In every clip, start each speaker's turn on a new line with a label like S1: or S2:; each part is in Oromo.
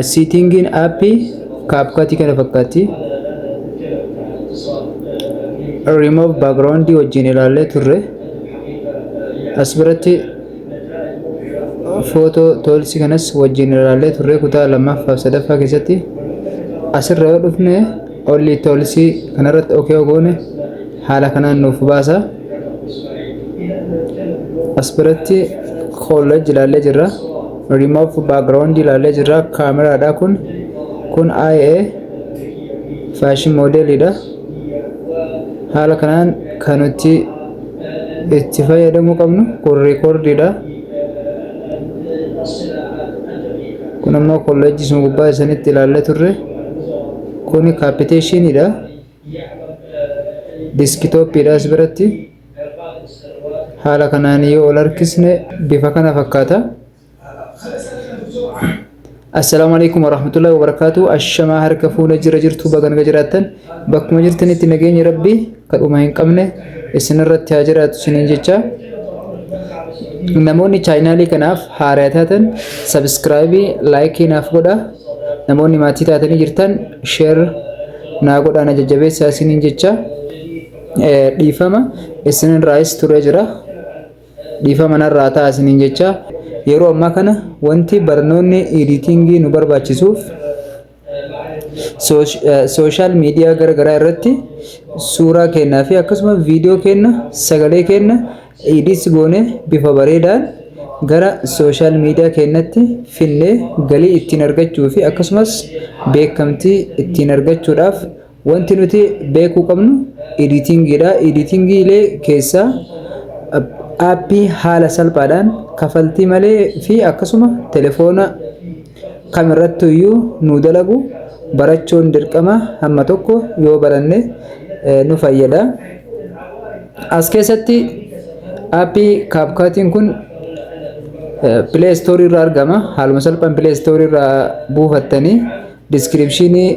S1: Siitingiin aappii kaapkatii kana fakkaatti. Remove background wajjin ilaallee turre. As biratti footoo toolsi kanas wajjin ilaallee turre kutaa lammaffaa fi sadaffaa keessatti asirra yoo dhufne Olli itti olsi kanarratti ok yoo goone haala kanaan nuuf baasa. As biratti college ilaallee jirra. Remove background ilaallee jirra. Kaameraadha kun. Kun IA fashion modelidha. Haala kanaan kan nuti itti fayyadamuu qabnu kun recordiidha. Kun ammoo college sun gubbaa isanitti ilaallee turre. Kuni kaappiteeshiniidha. Diskitooppiidha as biratti. Haala kanaan yoo ol harkisne bifa kana fakkaata. Assalaamu alaikum warahmatullahi wabarakaatu. Ashamaa harka fuuna jira jirtu baga naga jiraattan. Bakkuma jirtanitti nageenyi rabbii. Akka dhuma hin qabne isinirratti haa jiraatu isiniin jecha namoonni chaayinaalii kanaaf haaraa taatan sabiskiraayibii laayikii naaf godha namoonni maatii taatanii jirtan sheer naa godhaa na jajjabeessaa isiniin jecha dhiifama isinirraayis turee jira dhiifama narraa ta'a isiniin jecha yeroo ammaa kana wanti barnoonni editingii nu barbaachisuuf Sooshaal miidiyaa gara garaa irratti suuraa keenyaa fi akkasuma viidiyoo keenya sagalee keenya edits goonee bifa bareedaan gara sooshaal miidiyaa keenyatti fidnee galii ittiin argachuu fi akkasumas beekamtii ittiin argachuudhaaf Wanti nuti beekuu qabnu editingiidha. Editingiilee keessaa aappii haala salphaadhaan kafaltii malee fi akkasuma telefoona kam irratti iyyuu nu dalagu barachuun dirqama hamma tokko yoo baranne nu fayyada. As keessatti aappii kaapkaatiin kun pilee istoorii irraa argama. Haaluma salphaan pilee istoorii irraa buufattanii Diskiripshinii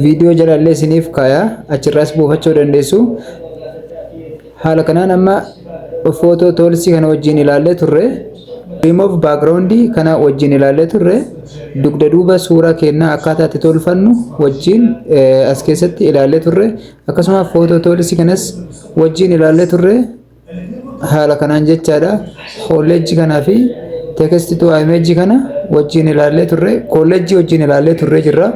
S1: viidiyoo jalallee isiniif kaaya achirraas buufachuu dandeessu. Haala kanaan amma footoo toolsii kana wajjin ilaallee turre. Remove background kana wajjin ilaallee turre. Dugda duuba suuraa keenyaa akkaataa itti tolfannu wajjin as keessatti ilaallee turre. Akkasuma footoo toolsii kanas wajjin ilaallee turre. haala kanaan jechaadha kolleejji kanaa fi teekesti tu imeejji kana wajjin ilaallee turre kolleejji wajjin ilaallee turre jirra.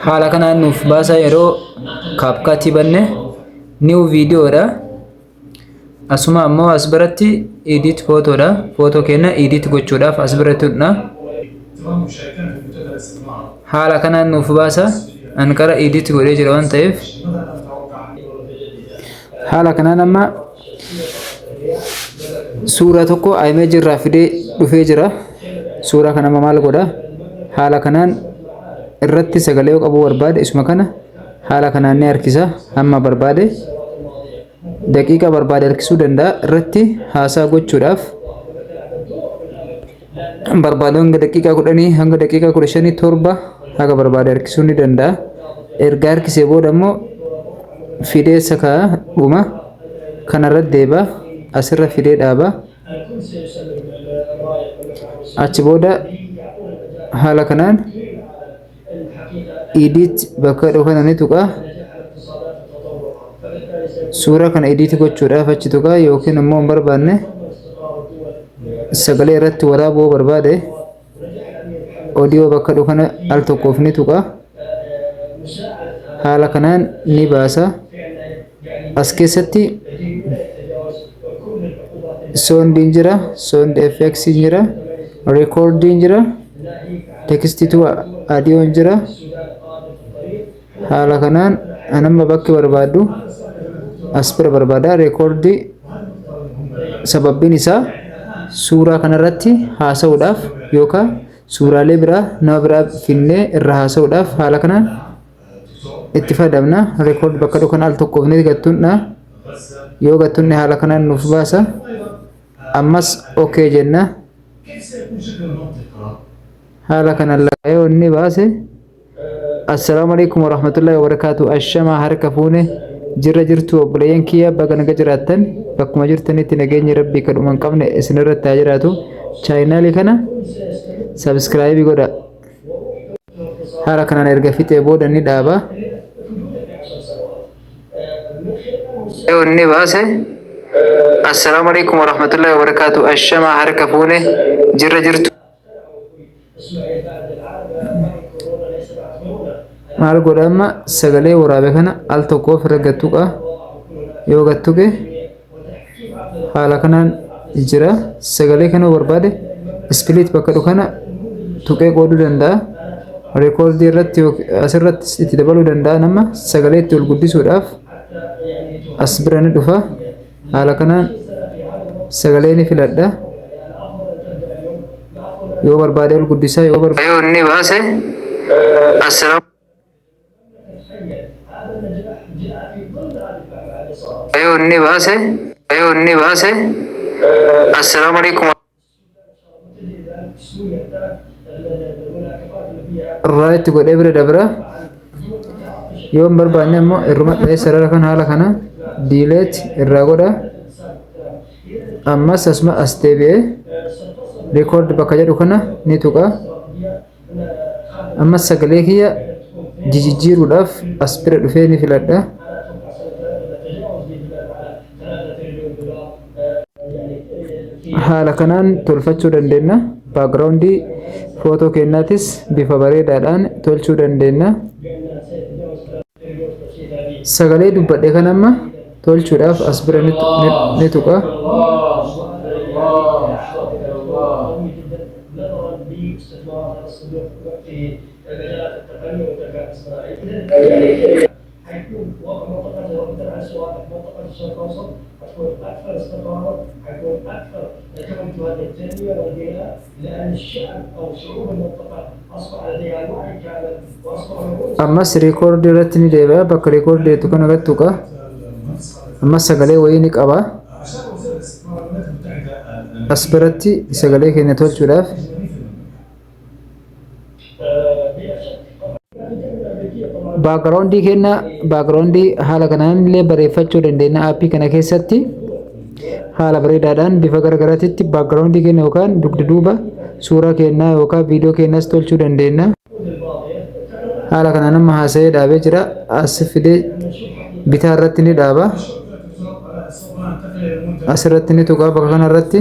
S1: haala kanaan nuuf baasaa yeroo kaapkaatii banne niw viidiyoodha. Asuma ammoo as biratti edit photo dha. Photo keenya edit gochuudhaaf as bira tuqna. Haala kanaan nuuf baasa. An qara edit godhee jira waan ta'eef. Haala kanaan amma suuraa tokko image irraa fidee dhufee jira. Suuraa kana amma maal godha? Haala kanaan irratti sagalee yoo qabuu barbaade isuma kana haala kanaan ni harkisa amma barbaade daqiiqa barbaade harkisuu danda'a irratti haasaa gochuudhaaf barbaade hanga daqiiqaa kudhanii hanga daqiiqaa kudha shanii torba haga barbaade harkisuu ni danda'a erga harkisee booda immoo fidee sakaa dhuma kanarra deeba asirra fidee dhaaba achi booda haala kanaan edit bakka jedhu kana ni tuqa suura kana edit gochuudhaaf achi tuqa yookiin immoo hin barbaanne sagalee irratti waraabuu yoo barbaade audio bakka jedhu kana al tokkoof ni tuqa haala kanaan ni baasa. As keessatti soondiin jira, soond fx jira, reekoordiin jira, tekstituu adiyoon jira. Haala kanaan anamma bakki barbaadu as bira barbaada reekoordii sababbiin isaa suuraa kanarratti haasa'uudhaaf yookaan suuraalee biraa nama biraa finnee irra haasa'uudhaaf haala kanaan itti fayyadamna record bakka dhukan al tokkoof ni gattunna yoo gattunne haala kanaan nuuf baasa ammas ok jenna haala kanaan laayoo inni baase assalaamu alaikum warahmatullahi wabarakaatu ashamaa harka fuune jirra jirtu obboleeyyan kiyya baga naga jiraattan bakkuma jirtanitti nageenyi rabbii kan dhuman qabne isinirratti haa jiraatu chaayinaalii kana sabskraayibii godha haala kanaan erga fixee booda ni dhaaba. Inni baase assalaamu alaikum warahmatullahi wabarakaatu ashama harka fuune jirra jirtu. Maal godha amma sagalee waraabe kana al tokko ofirra gattuqa yoo gattuqe. haala kanaan jira sagalee kana barbaade ispiliit bakka dhufu kana tuqee qooduu danda'a reekoordii irratti yook- asirratti itti dabaluu danda'a nama sagalee itti ol guddisuudhaaf as bira ni dhufa haala kanaan sagalee ni filadha yoo barbaade ol guddisaa yoo barbaade Yoo inni baase asirra Yoo inni baase yoo inni baase assalaamu alaikum irraa itti godhee bira dabra yoo hin barbaanne immoo irruma dhahee sarara kan haala kana diileet irraa godha ammas asuma as deebi'ee rikoord bakka jedhu kana ni tuqa Amma sagalee kiyya jijijjiiruudhaaf as bira dhufee ni filadha. Haala kanaan tolfachuu dandeenya. Baakgiraawundii footoo keenyaatis bifa bareedaadhaan tolchuu dandeenya. sagalee dubbadhe kan amma tolchuudhaaf as bira ni tu- ni- ni tuqa ammas record irratti ni deebi'a bakka record jettu kana irratti tuqa ammas sagalee wayii ni qaba as biratti sagalee keenya tolchuudhaaf baakgiraawundii kenna baakgiraawundii haala kanaan illee bareeffachuu dandeenya aappii kana keessatti haala bareedaadhaan bifa garagaraatitti baakgiraawundii kenna yookaan dugda duuba suuraa kennaa yookaan viidiyoo kennas tolchuu dandeenya haala kanaan amma haasa'ee dhaabee jira as fidee bitaa irratti ni dhaaba asirratti ni tuqaa bakka kanarratti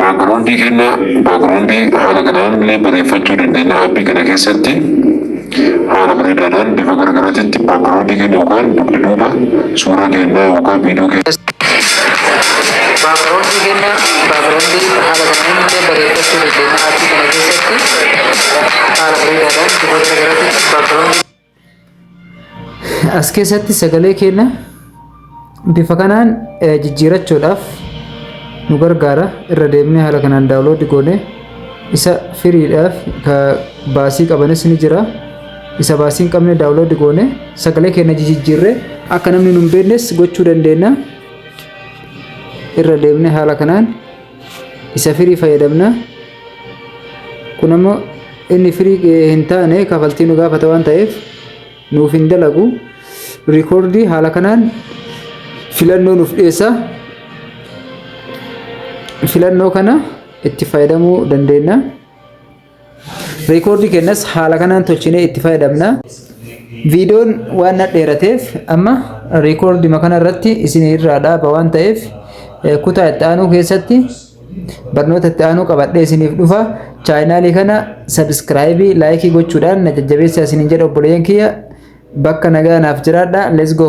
S1: Backgroundii kenna backgroundii haala kanaan illee bareeffachuu dandeenya aapii kana keessatti haala bareedaadhaan bifa garagaraatitti backgroundii kenna yookaan dugda duuba suuraa kennaa yookaan viidiyoo kenna. Backgroundii kenna backgroundii haala kanaan illee bareeffachuu dandeenya aapii kana keessatti haala bareedaadhaan bifa garagaraatitti backgroundii As keessatti sagalee keenya bifa kanaan eh, jijjiirachuudhaaf nu gargaara. Irra deemnee haala kanaan daawunloodii goone isa firiidhaaf ka baasii qabanis ni jira. Isa baasii hin qabne daawunloodii goone sagalee keenya jijjiirree akka namni nu hin beeknes gochuu dandeenya. Irra deemnee haala kanaan isa firii fayyadamna kun ammoo inni firii hin taane kafaltii nu gaafata waan ta'eef nuuf hin dalagu riikoordii haala kanaan filannoo nuuf dhiyeessa filannoo kana itti fayyadamuu dandeenya. Reekoordii kennas haala kanaan tolchinee itti fayyadamna. Viidiyoon waan na dheerateef amma reekoordima kana irratti isin irraa dhaaba waan ta'eef eh, kutaa itti aanuu keessatti barnoota itti aanuu qabadhee isiniif dhufa. Chaayinaalii kana sabiskiraayibii laayikii gochuudhaan na jajjabeessaa isiniin jedha obboleeyyan kiyya bakka nagaa naaf jiraadha. Let's go!